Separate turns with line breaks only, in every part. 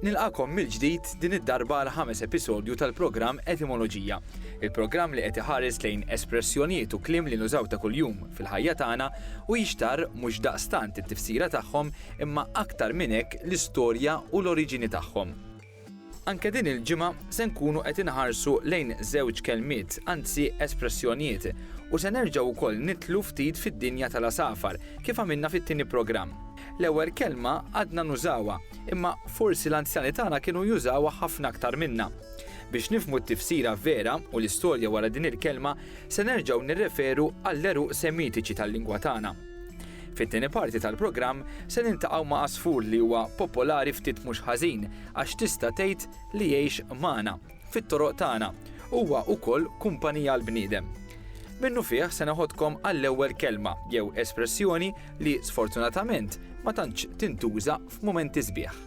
Nilqakom mill-ġdid din id-darba għal ħames episodju tal-programm Etimoloġija, il-programm li qed iħares lejn espressjonijiet u kliem li nużaw ta' kuljum fil-ħajja tagħna u jixtar mhux daqstant it-tifsira tagħhom imma aktar minn hekk l-istorja u l-oriġini tagħhom. Anke din il-ġimgħa se nkunu qed inħarsu lejn żewġ kelmiet, anzi espressjonijiet, u se nerġgħu wkoll nidħlu ftit fid-dinja tal-għasafar, kif għamilna fit-tieni programm. L-ewwel kelma għadna nużawha, imma forsi l-anzjani tagħna kienu jużawha ħafna aktar minna. Biex nifhmu t-tifsira vera u l-istorja wara din il-kelma, se nerġgħu nirreferu għall-għeruq semitiċi tal-lingwa tagħna. Fit-tieni parti tal-programm se niltaqgħu ma' għasfur li huwa popolari ftit mhux ħażin għax tista' tgħid li jgħix magħna, fit-toroq tagħna, huwa ukoll kumpanija għall-bniedem. Minnufih se neħodkom għall-ewwel kelma jew espressjoni li sfortunatament ma tantx tintuża f'mumenti sbieħ.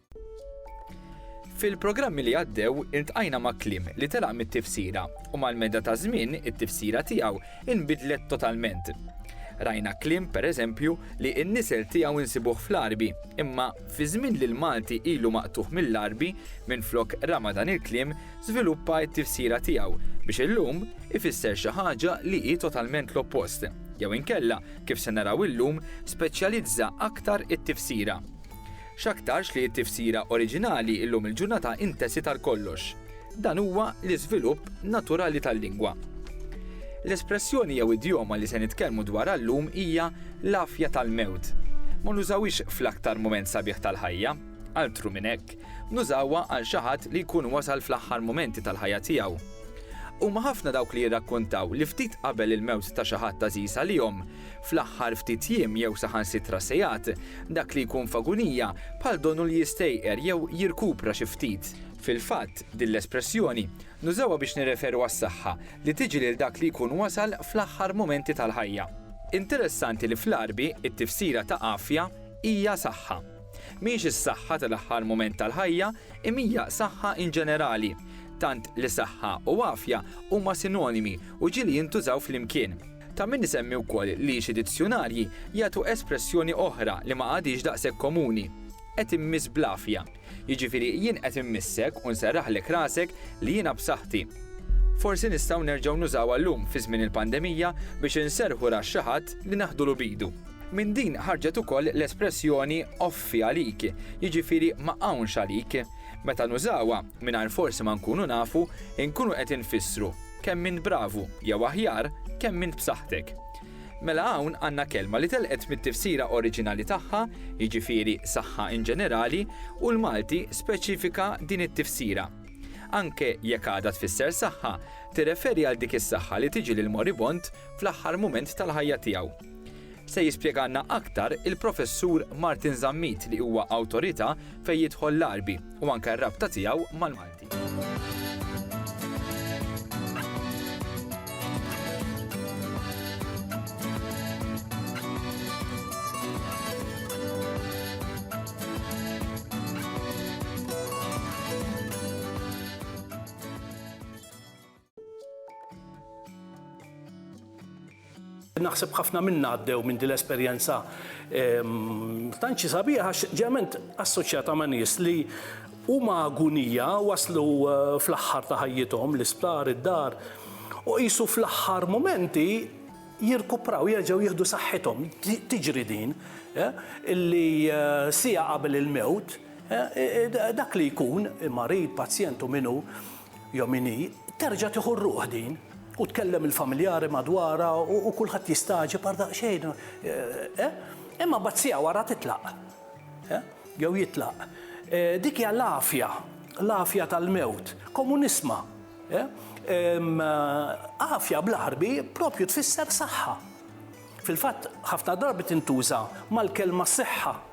Fil-programmi li għaddew intqajna ma' kliem li telaq mit-tifsira u mal-meda ta' żmien it-tifsira tiegħu inbidlet totalment. Rajna kliem pereżempju li n-nisel tiegħu nsibuh fl-Għarbi, imma fi żmien li l-Malti ilu maqtugħ mill-Għarbi, minflok rama dan il-kliem żviluppa t-tifsira tiegħu biex illum ifisser xi ħaġa li hi totalment l-oppost, jew inkella, kif se naraw illum, speċjalizza aktar it-tifsira. X'aktarx li t-tifsira oriġinali llum il-ġurnata intesiet għal kollox. Dan huwa l-iżvilupp naturali tal-lingwa. L-espressjoni jew idjoma li se nitkellmu dwarha llum hija l-għafja tal-mewt. Ma nużawhiex fl-aktar mument sabiħ tal-ħajja. Altru minn hekk, nużawha għal xi ħadd li jkun wasal fl-aħħar mumenti tal-ħajja tiegħu. Huma ħafna dawk li jirrakkuntaw li ftit qabel il-mewt ta' xi ħadd għażiż għalihom, fl-aħħar ftit jiem jew saħansitra sigħat, dak li jkun f'agunija bħal donu li jistejqer jew jirkupra xi ftit. Fil-fatt, din l-espressjoni nużawha biex nirreferu għas-saħħa li tiġi lil dak li jkun wasal fl-aħħar mumenti tal-ħajja. Interessanti li fl-Għarbi t-tifsira ta' għafja hija saħħa. Mhix is-saħħa tal-aħħar mument tal-ħajja imma hija saħħa in ġenerali, tant li saħħa u għafja huma sinonimi u ġieli jintużaw flimkien. Ta' min isemmi wkoll li xi dizzjunarji jagħtu espressjoni oħra li ma għadhiex daqshekk komuni, qed immiss bl-għafja, jiġifieri jien qed immissek u nserraħlek rasek li jiena b'saħħti. Forsi nistgħu nerġgħu nużawha llum fi żmien il-pandemija biex inserrħu ras xi ħadd li naħdulu b'idu. Minn din ħarġet ukoll l-espressjoni offi għalik, jiġifieri ma hawnx għalik. Meta nużawha, mingħajr forsi ma nkunu nafu, inkunu qed infissru, Kemm int bravu, jew aħjar, kemm int b'saħħtek. Mela hawn għandna kelma li telqet mit-tifsira oriġinali tagħha, jiġifieri saħħa in ġenerali, u l-Malti speċifika din it-tifsira. Anke jekk għadha tfisser saħħa, tirreferi għal dik is-saħħa li tiġi lill-moribond fl-aħħar mument tal-ħajja tiegħu. Se jispjegalna aktar il-Professur Martin Zammit li huwa awtorità fejn jidħol l-Għarbi u anke r-rabta tiegħu mal-Malti.
Naħseb ħafna minna għaddew minn din l-esperjenza ehm, tanċi sabiħ għax ġement assoċjata ma' nies li huma agunija waslu eh, fl-aħħar ta' ħajjithom l-isptar, id-dar u qisu fl-aħħar momenti jirkupraw, jerġgħu jieħdu saħħithom, tiġri din, eh, illi eh, sija qabel il-mewt, eh, dak li jkun, marid, pazjent u minu, Yomini, Terġa' tieħu r-ruħ din! U tkellem il-familjari madwarha u kulħadd jistagħġeb għal daqsxejn, eh? Imma mbagħad siegħa wara titlaq, eh? Jew jitlaq. Dik hija l-għafja, l-għafja tal-mewt. Komunisma, eh? Għafja bl-Għarbi proprju tfisser saħħa. Fil-fatt, ħafna drabi tintuża mal-kelma siħħa.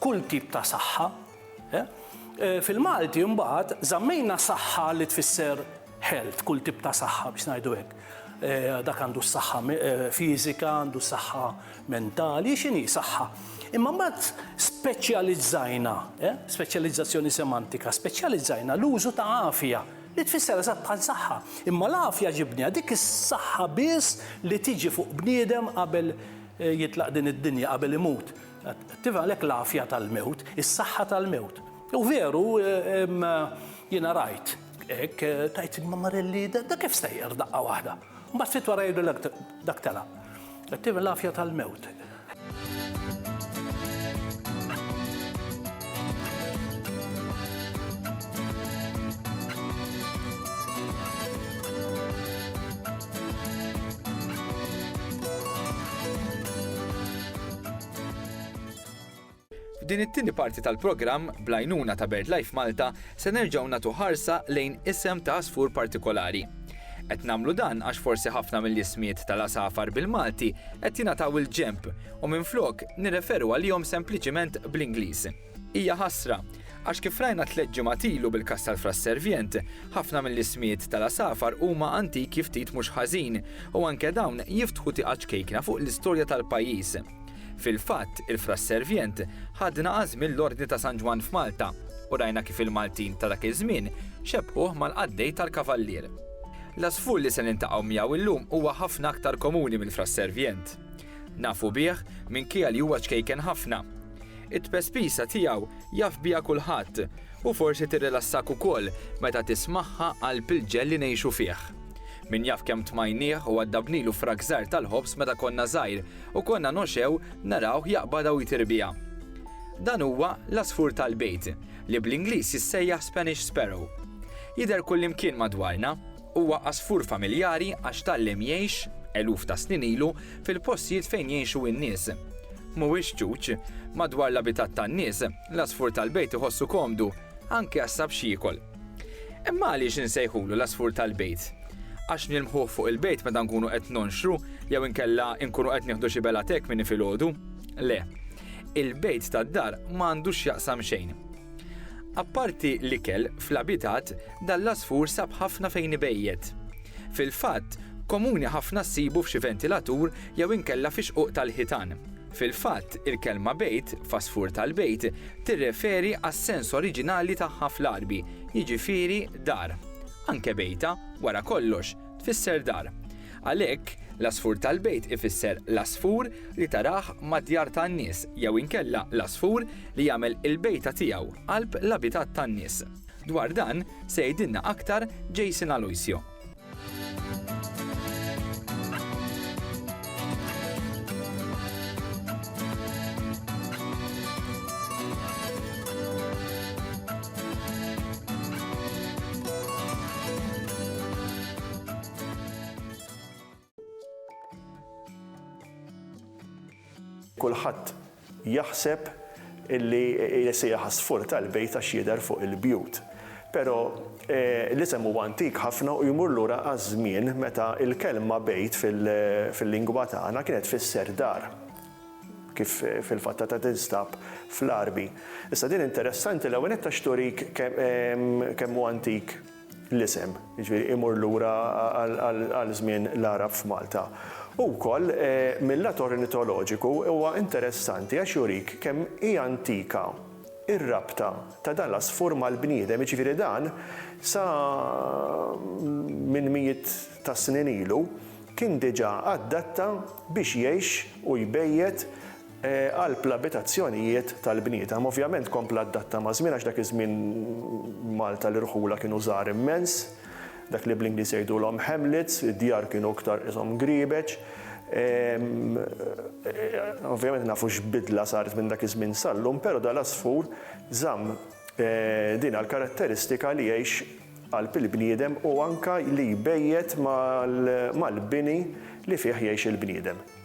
kull tip ta' saħħa. Fil-Malti mbagħad żammejna saħħa li tfisser health, kull tip ta' saħħa biex ngħidu hekk. Dak għandu s-saħħa fiżika, għandu s-saħħa mentali, x'inhi saħħa. Imma mbagħad speċjalizzajna, speċjalizzazzjoni semantika, speċjalizzajna l-użu ta' għafja li tfisser eżatt bħal saħħa. Imma l-għafja ġibniha dik is-saħħa biss li tiġi fuq bniedem qabel jitlaq din id-dinja, qabel imut. Tiva għalhekk l-għafja tal-mewt, is-saħħa tal-mewt. U veru, jiena rajt, hekk tajt ma Marelli, da kif sejjer daqqa waħda. Ma sitt wara jgħidu dak tela. Tiva l-għafja tal-mewt.
F'din it-tieni parti tal-programm, bl-għajnuna ta' BirdLife Malta, se nerġgħu nagħtu ħarsa lejn isem ta' għasfur partikolari. Qed nagħmlu dan għax forsi ħafna mill-ismijiet tal-għasafar bil-Malti qed jingħataw il-ġenb u minflok nirreferu għalihom sempliċiment bl-Ingliż. Hija ħasra, għax kif rajna tliet ġimgħat ilu bil-każ tal-Fra Servient, ħafna mill-ismijiet tal-għasafar huma antiki ftit mhux ħażin u anke dawn jiftħu tieqa ċkejkna fuq l-istorja tal-pajjiż. Fil-fatt, il-Fra Servient ħadna għażmien l-Ordni ta' San Ġwann f'Malta u rajna kif il-Maltin ta' dak iż-żmien xebbħuh mal-qaddej tal-kavallier. L-għasfur li se niltaqgħu miegħu llum huwa ħafna aktar komuni mill-Fra Servient. Nafu bih minkejja li huwa ċkejken ħafna. It-tpespisa tiegħu jaf biha kulħadd u forsi tirrilassak ukoll meta tismagħha qalb il-ġell li ngħixu fih. Min jaf kemm tmajnieh u għaddabnilu frak żgħar tal-ħobż meta konna żgħir u konna noxew narawh jaqbadha u jtir biha. Dan huwa l-għasfur tal-bejt, li bl-Ingliż jissejjaħ Spanish sparrow. Jidher kullimkien madwarna. Huwa għasfur familjari għax tgħallem jgħix, eluf ta' snin ilu, fil-postijiet fejn jgħixu n-nies. Mhuwiex ċuċ. Madwar l-abitat tan-nies, l-għasfur tal-bejt iħossu komdu, anke għax sab x'jiekol. Imma għaliex insejħulu l-għasfur tal-bejt? Għax nilmħuh fuq il-bejt meta nkunu qed nonxru jew inkella nkunu qed nieħdu xi bela tekmini filgħodu? Le. Il-bejt tad-dar ma għandu x'jaqsam xejn. Apparti l-ikel, fl-abitat, dan l-għasfur sab ħafna fejn ibejjet. Fil-fatt, komuni ħafna ssibu f'xi ventilatur jew inkella fi xquq tal-ħitan. Fil-fatt, il-kelma bejt, f'għasfur tal-bejt, tirreferi għas-sens oriġinali tagħha fl-Għarbi, jiġifieri dar. Anke bejta, wara kollox, tfisser dar. Għalhekk, l-għasfur tal-bejt ifisser l-għasfur li tarah mad-djar tan-nies jew inkella l-għasfur li jagħmel il-bejta tiegħu qalb l-abitat tan-nies. Dwar dan se jgħidilna aktar Jason Aloisio.
Kulħadd jaħseb illi jesija ħasfur tal-bejt għax jidher fuq il-bjut. Pero eh, l-isem huwa antik ħafna u jmur lura għaż-żmien meta il-kelma bejt fil-lingwa tagħna kienet fisser dar kif eh, fil-fatta ta' tinstab fl-arbi. Issa din interessanti l-ewwel qed turik kemm huwa antik l-isem, jiġifieri imur lura għal żmien l-Għarab f'Malta. U wkoll mil-lat ornitoloġiku huwa interessanti għax jurik kemm hi antika r-rabta ta' dan l-għasfur mal-bniedem, jiġifieri dan sa minn mijiet ta' snin ilu kien diġà adatta biex jgħix u jbejjet qalb l-abitazzjonijiet tal-bniedem. Ovvjament kompla adatta maż-żmien għax dak iż-żmien Malta l-irħula kienu żgħar immens, dak li bl-Ingliż jgħidulhom hamlets, id-djar kienu iktar qishom griebeċ. Ovvjament nafu x'bidla saret minn dak iż-żmien sal-lum, però dal-għasfur żamm dina l-karatteristika li jgħix qalb il-bniedem u anke li jbejjet mal-bini li fih jgħix il-bniedem.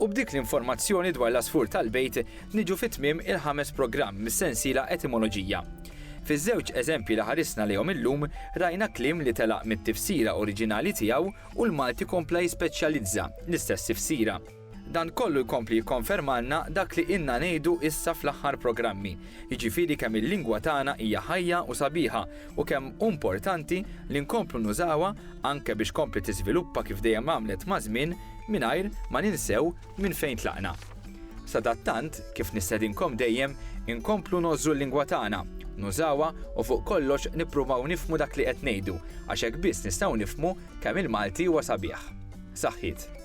U b'dik l-informazzjoni dwar l-għasfur tal-bejt niġu fi tmiem il-ħames programm mis-sensiela Etimoloġija. Fiż-żewġ eżempji li ħarisna lejhom illum rajna kliem li telaq mit-tifsira oriġinali tiegħu u l-Malti kompla jispeċjalizza l-istess tifsira. Dan kollu jkompli jikkonfermalna dak li ilna ngħidu issa fl-aħħar programmi, jiġifieri kemm il-lingwa tagħna hija ħajja u sabiħa u kemm hu mportanti li nkomplu nużawha anke biex tkompli tiżviluppa kif dejjem għamlet maż-żmien mingħajr ma ninsew minn fejn tlaqna. Sadattant, kif nistedinkom dejjem, inkomplu ngħożżu l-lingwa tagħna, nużawha u fuq kollox nippruvaw nifhmu dak li qed ngħidu għax hekk biss nistgħu nifhmu kemm il-Malti huwa sabiħ. Saħħiet.